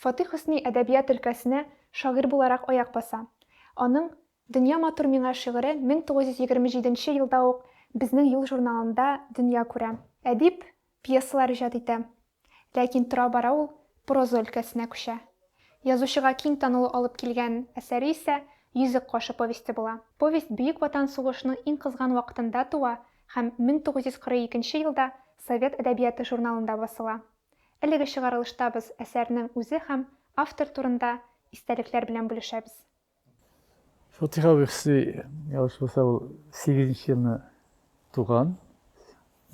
Фатих Хөсни әдәбият өлкәсенә шагыйрь буларак аяк баса. Аның Дөнья матур миңа шигыре 1927 нче елда ук Безнең юл журналында дөнья күрә. Әдип пьесалар иҗат итә. Ләкин тора-бара ул проза өлкәсенә күчә. Язучыга киң танылу алып килгән әсәре исә Йөзек кашы повесте була. Повесть Бөек Ватан сугышының иң кызган вакытында туа һәм 1942 елда Совет әдәбияты журналында басыла. Әлеге чыгарылышта без әсәрнең үзе һәм автор турында истәлекләр белән бүлешәбез. Фатыйха Вехси, ялгыш булса, ул сигезенче елны туган.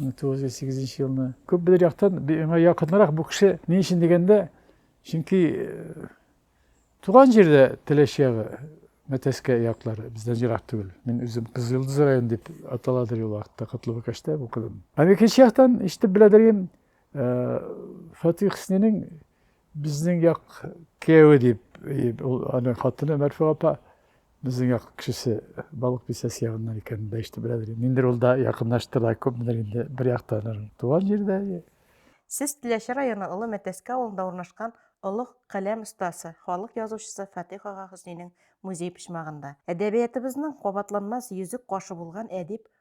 1908 елны. Күп бер яктан миңа якынрак бу кеше ни өчен дигәндә, чөнки э, туган җирдә Теләч ягы, Мәтәскә яклары бездән ерак түгел. Мин үзем Кызылдыз районы дип аталадыр ул вакытта Котлыбыкәштә укыдым. Һәм икенче яктан ишетеп беләдер идем, Фатих Хөснинең безнең як кияүе дип, ул аны хатыны Мәрфуга апа безнең як кешесе Балык бистәсе ягыннан икән дә ишетеп беләдер. Ниндер ул да якынлашты да күпмедер инде бер яктан туган җирдә. Сез Теләче районы Олы Мәтәскә авылында урнашкан олуг каләм остасы, халык язучысы Фатих ага Хөснинең музей почмагында. Әдәбиятыбызның кабатланмас йөзек кашы булган әдип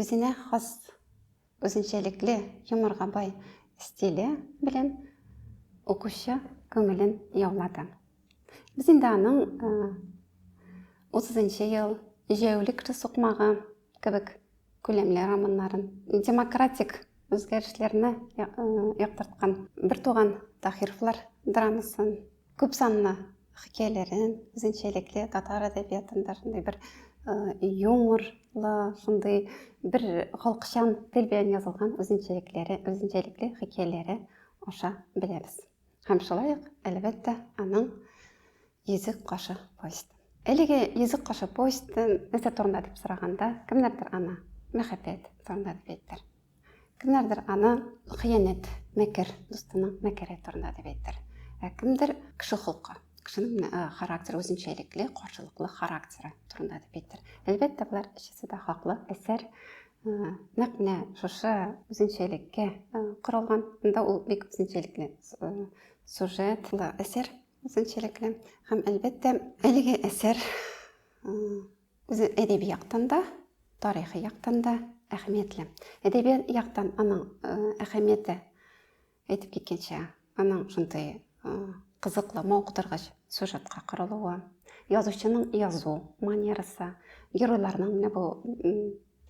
Үзенә хас, үзенчәлекле, юморга бай стиле белән укучы күңелен яулады. Без инде аның 30 э, ел җәүлек сукмагы кебек күләмле романнарын, демократик үзгәрешләрне э, яктырткан бер туган Таһировлар драмасын Күп санлы хикәяләрен, үзенчәлекле татар әдәбиятында шундый бер юморлы, шундый бер халыкчан тел белән язылган үзенчәлекләре, үзенчәлекле хикәяләре аша беләбез. Һәм шулай ук, әлбәттә, аның Йөзек кашы повесте. Әлеге Йөзек кашы повесте нәрсә турында дип сораганда, кемнәрдер аны мәхәббәт турында дип әйтер. Кемнәрдер аны хыянәт, мәкер, дустының мәкере турында дип әйтер. Ә кемдер кеше холкы, кешенең э, характер үзенчәлекле, каршылыклы характеры турында дип әйтер. Әлбәттә, болар өчесе дә хаклы. Әсәр э, нәкъ менә шушы үзенчәлеккә э, корылган. Монда ул бик үзенчәлекле сюжетлы әсәр, үзенчәлекле. Һәм әлбәттә, әлеге әсәр Үзе әдәби яктан да, тарихи яктан да әһәмиятле. Әдәби яктан аның әһәмияте әйтеп киткәнчә, аның шундый кызыклы, мавыктыргыч сюжетка корылуы, язучының язу манерасы, геройларның менә бу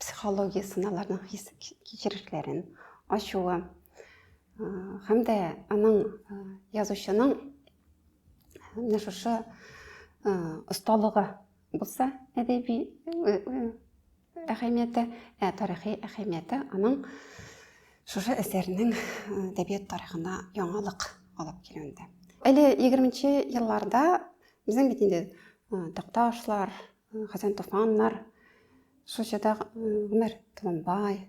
психологиясен, аларның хис кичерешләрен ачуы һәм дә аның язучының менә шушы осталыгы Булса, әдәби әһәмияте, ә тарихи әһәмияте аның шушы әсәрнең әдәбият тарихына яңалык алып килүендә. Әле 20-нче елларда безнең бит инде Такташлар, Хәсән Туфаннар, шул чорда Гомәр Толымбай,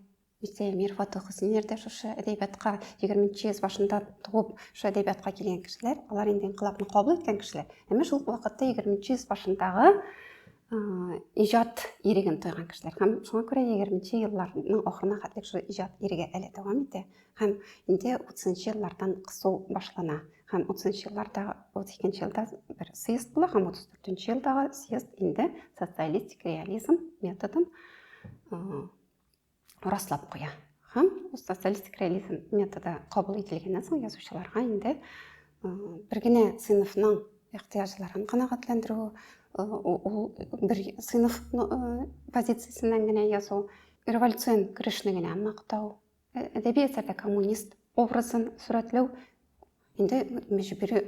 Ирсә Эмир Фатух Хөсниләр дә шушы әдәбиятка 20 йөз башында туып, шушы әдәбиятка килгән кешеләр, алар инде инкыйлабны кабул иткән кешеләр. Әмма шул вакытта 20 йөз башындагы иҗат иреген тойган кешеләр һәм шуңа күрә 20 елларның ахырына хәтлек шул иҗат иреге әле дәвам итә һәм инде 30 еллардан кысу башлана һәм 30 елларда 32 елда бер съезд була һәм 34 елдагы съезд инде социалистик реализм методын раслап куя һәм ул социалистик реализм методы кабул ителгәннән соң язучыларга инде бер генә сыйныфның ихтыяҗларын канәгатьләндерү ул бер сыйныф позициясеннән генә язу революцион көрәшне генә мактау әдәби әсәрдә коммунист образын сурәтләү Инде мәҗбүри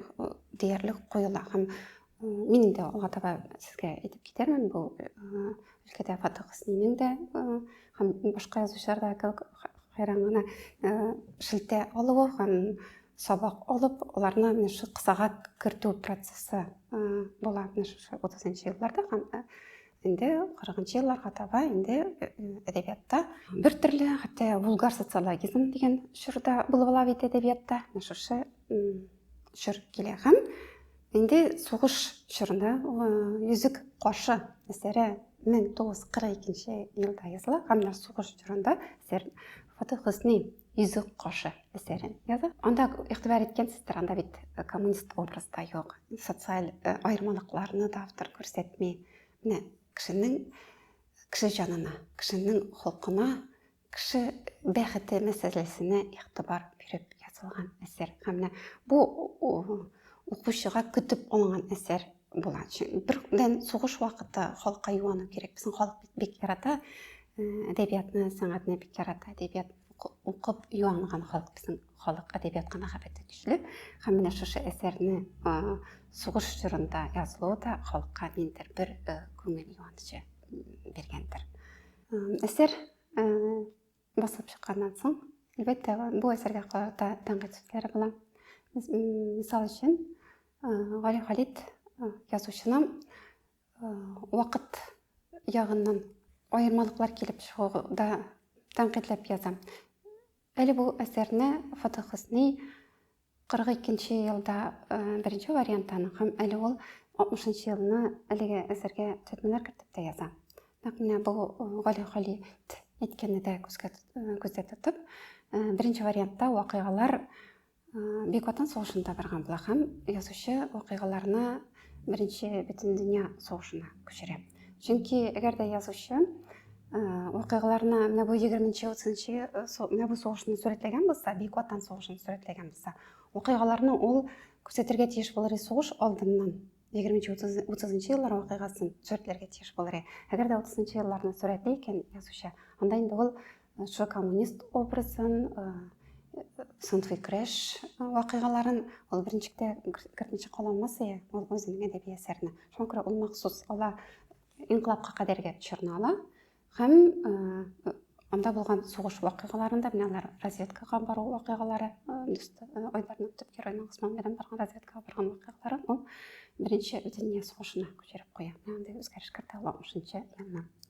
диярлек коела һәм мин инде алга таба сезгә әйтеп китәрмен бу өлкәдә Фатык Хөснинең дә һәм башка язучылар да кебек хәйран гына шелтә алуы һәм сабак алып, аларны менә шул кысага кертү процессы була менә шушы 30 елларда һәм инде кырыгынчы елларга таба инде э, әдәбиятта бер төрле хәтта вулгар социологизм дигән чорда булып ала бит әдәбиятта шушы чор килә һәм инде сугыш чорында э, йөзек каршы әсәре мең тугыз кырык икенче елда языла һәм менә сугыш чорында әсәр фатих хөсни Йөзек кошы әсәрен яза. Анда игътибар иткәнсездер, анда бит э, коммунист образ да юк, социаль э, аермалыкларны да автор күрсәтми. Менә кешенең кеше җанына, кешенең холкына, кеше бәхете мәсьәләсенә игътибар биреп язылган әсәр. Һәм менә бу укучыга көтеп алынган әсәр Була. Бердән сугыш вакыты халыкка юану кирәк. Безнең халык бит бик ярата э, әдәбиятны, сәнгатьне бик ярата. Әдәбият укып юанган халык безнең халык әдәбиятка мәхәббәте көчле. Һәм менә шушы әсәрне э, сугыш чорында язылуы да халыкка ниндер бер э, күңел юанычы биргәндер. Әсәр Басылып чыкканнан соң, әлбәттә, бу әсәргә карата тәнкыйть сүзләре була. Мисал өчен, Гали Халит язучыны вакыт ягыннан аермалыклар килеп чыгуда тәнкыйтьләп яза. Әле бу әсәрне Фатыхысный 42 нче елда беренче вариант аның, һәм әле ул 60 нчы елны әлеге әсәргә төзәтмәләр кертеп тә яза. Нәкъ менә бу Гали Халит әйткәнне дә күзгә күздә тотып, беренче вариантта вакыйгалар Бик Ватан сугышында барган була һәм язучы вакыйгаларны Беренче бөтен дөнья сугышына күчерә. Чөнки әгәр дә язучы вакыйгаларны менә бу 20-30 менә бу сугышны сурәтләгән булса, Бөек Ватан сугышын сурәтләгән булса, вакыйгаларны ул күрсәтергә тиеш булыр сугыш алдыннан 20-30 еллар вакыйгасын сурәтләргә тиеш булыр. Әгәр дә 30 елларны сурәтли икән язучы, анда инде ул Шул коммунист образын, Сунфый креш вакыйгаларын ул беренчектә кертмичә кала алмасыя, ул үзенең әдәби әсәренә. Шуңа күрә ул махсус ала инкылапка кадәрге чорны ала һәм анда булган сугыш вакыйгаларында менә алар разведкага бару вакыйгалары айдарның төп героеның Усман белән барган разведкага барган вакыйгаларын ул беренче дүния сугышына күчереп куя. Менә андый үзгәреш кертә ала 60 елына.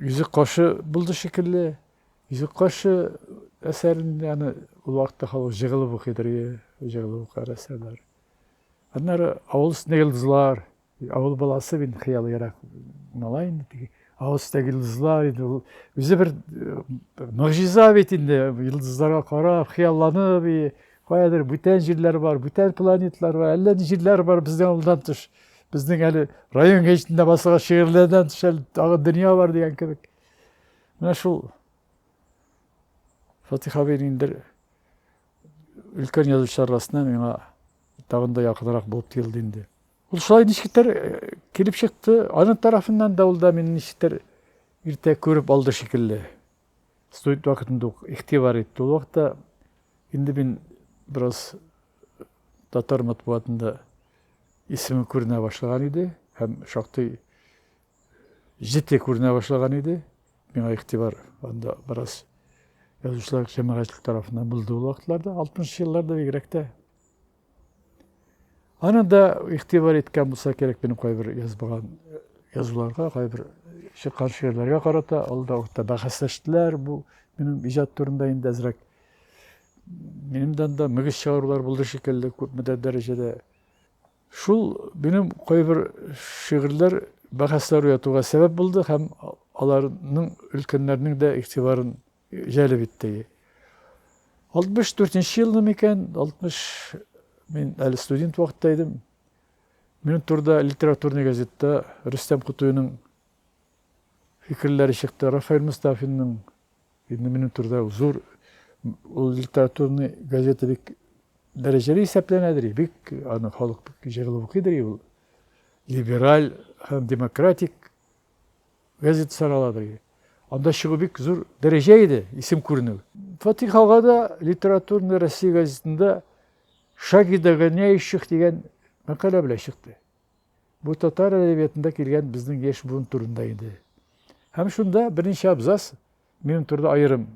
Йөзек кашы булды шикелле. Йөзек кашы әсәрен яны ул вакытта халык җыгылып укыйдыр, җыгылып укар әсәрләр. Аннары авыл өстендә йолдызлар, авыл баласы бит хыялы ерак малай инде теге авыл өстендәге йолдызлар инде ул үзе бер могҗиза бит инде йолдызларга карап хыялланып каядыр бүтән җирләр бар бүтән планетлар бар әллә ни җирләр бар бездән авылдан тыш Безнең әле район гәҗитендә басылган шигырьләрдән тыш әле тагы дөнья бар дигән кебек. Менә шул Фатих абый инде өлкән язучылар арасыннан миңа тагын да якынрак булып тоелды инде. Ул шулай ничектер э, килеп чыкты. Аның тарафыннан да ул да мине ничектер иртә күреп алды шикелле. Студент вакытында ук игътибар итте ул вакытта. Инде мин бераз татар матбугатында исеме күренә башлаган иде һәм шактый җете күренә башлаган иде. Миңа игътибар анда бераз язучылар җәмәгатьчелек тарафыннан булды ул вакытларда, 60 елларда бигрәк тә. Аны да игътибар иткән булса кирәк минем кайбер язмаган язуларга, кайбер чыккан шигырьләргә карата, ул да вакытта бәхәсләштеләр. Бу минем иҗат турында инде әзрәк минемдән дә мөгез чыгарулар булды шикелле, күпмедер дәрәҗәдә. Шул минем кайбер шигырьләр бәхәсләр уятуга сәбәп булды һәм аларның өлкәннәрнең дә игътибарын җәлеп итте. 64 нче елны микән, 60 мин әле студент вакытта идем. Минем турда литературный газетта Рөстәм Кутуйның фикерләре чыкты, Рафаэль Мустафинның инде минем турда зур ул литературный газета бик дәрәҗәле исәпләнәдер, бик аны халык бик җырлы укыйдыр, ул либераль һәм демократик Газета сарала бергә. Анда чыгу бик зур дәрәҗә иде, исем күренү. Фатих ага да Литературная Россия газетында Шаги догоняющих дигән мәкалә белән чыкты. Бу татар әдәбиятында килгән безнең яшь буын турында иде. Һәм шунда берничә абзац минем турында аерым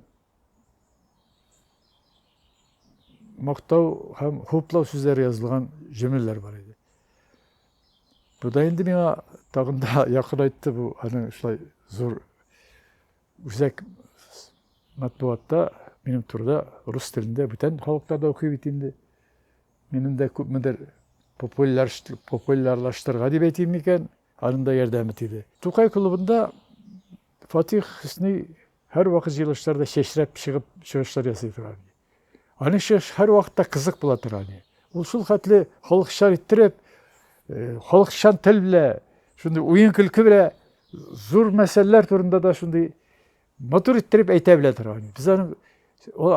мактау һәм хуплау сүзләре язылган җөмләләр бар иде. Бу да инде миңа тагын да якынайтты бу аның шулай зур үзәк матбугатта минем турыда рус телендә бүтән халыклар да укый бит инде. Минем дә күпмедер популярлаштырырга дип әйтим микән, аның да ярдәме тиде. Тукай клубында Фатих Хөсни һәрвакыт җыелышларда чәчрәп чыгып чыгышлар ясый торган иде. Аның чыгышы һәрвакытта кызык була тора иде. Ул шул хәтле халыкчан иттереп, халыкчан тел белә, шундый уен-көлке белә зур мәсьәләләр турында да шундый матур иттереп әйтә белә тора иде. Без аның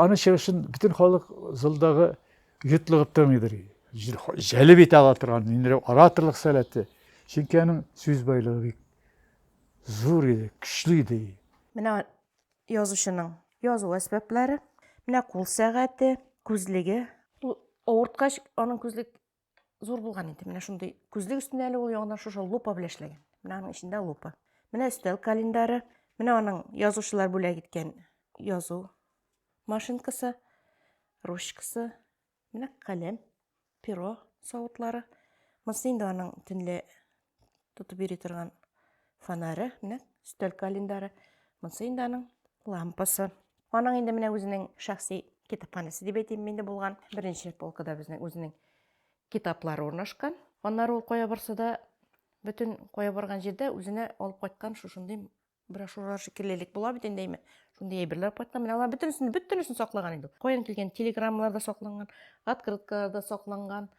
аның чыгышын бөтен халык залдагы йотлыгып тыңлыйдыр. Җәлеп итә ала торган инде ораторлык сәләте. Чөнки аның сүз байлыгы бик зур иде, көчле иде. Менә Язучының язу әсбәпләре. Менә кул сәгате, күзлеге. Ул авырткач, аның күзлек зур булган инде. Менә шундый күзлек өстенә әле ул яңадан шушы лупа белән эшләгән. Менә аның эчендә лупа. Менә өстәл календаре. Менә аның язучылар бүләк иткән язу машинкасы, ручкасы. Менә каләм, перо савытлары. Монысы инде аның төнлә тотып йөри торган фонары. Менә өстәл календаре. Монысы инде аның лампасы. Аның инде менә үзенең шәхси китапханәсе дип әйтим инде булган. Беренче полкада безнең үзенең китаплары урнашкан. Аннары ул кая барса да, бөтен кая барган җирдә үзенә алып кайткан шушындый брошюралар шикелле элек була бит инде әйме шундый әйберләр кайткан менә алар бөтенесен бөтенесен саклаган инде каян килгән телеграммалар да сакланган открыткалар да сакланган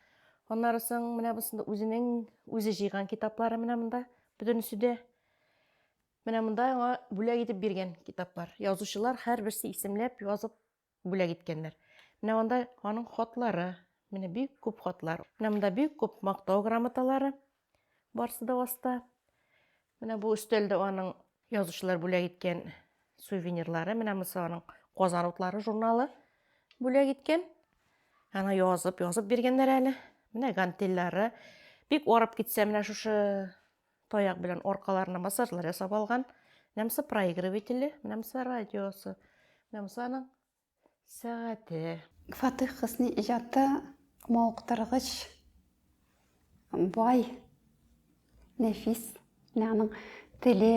аннары соң менә бусында үзенең үзе җыйган китаплары менә монда бөтенесе дә менә монда аңа бүләк итеп биргән китаплар язучылар һәрберсе исемләп язып бүләк иткәннәр. Менә анда аның хатлары, менә бик күп хатлар. Менә монда бик күп мактау грамоталары, барсы да аста. Менә бу өстәлдә аның язучылар бүләк иткән сувенирлары, менә монысы аның Казан утлары журналы бүләк иткән. Ана язып, язып биргәннәр әле. Менә гантельлары. Бик арып китсә, менә шушы Таяк белән аркаларына массажлар ясап алган. Менәмсе проигрывателе, менәмсе радиосы, менәмсе аның сәгате. Фатих Хысни иҗаты мавыктыргыч, бай, нәфис. Менә аның теле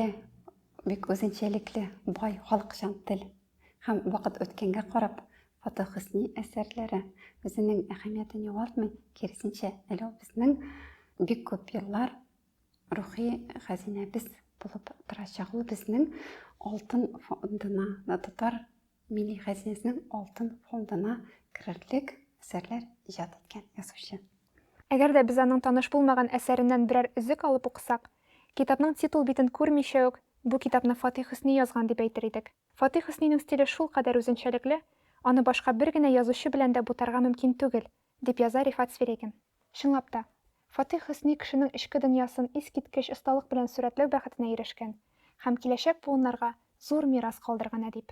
бик үзенчәлекле, бай, халыкчан тел. Һәм вакыт үткәнгә карап, Фатыйх Хөсни әсәрләре үзенең әһәмиятен югалтмый, киресенчә, әле ул безнең бик күп еллар рухи хәзинәбез булып торачак. Ул безнең алтын фондына, татар милли хәзинәсенең алтын фондына керерлек әсәрләр иҗат иткән язучы. Әгәр дә без аның таныш булмаган әсәреннән берәр өзек алып укысак, китапның титул битен күрмичә үк, Бу китапны Фатих Хөсни язган дип әйтер идек. Фатих Хөснинең стиле шулкадәр үзенчәлекле, аны башка бер генә язучы белән дә бутарга мөмкин түгел, дип яза Рифат Свирегин. Чынлап та, Фатих Хөсни кешенең эчке дөньясын искиткеч осталык белән сурәтләү бәхетенә ирешкән һәм киләчәк буыннарга зур мирас калдырган әдип.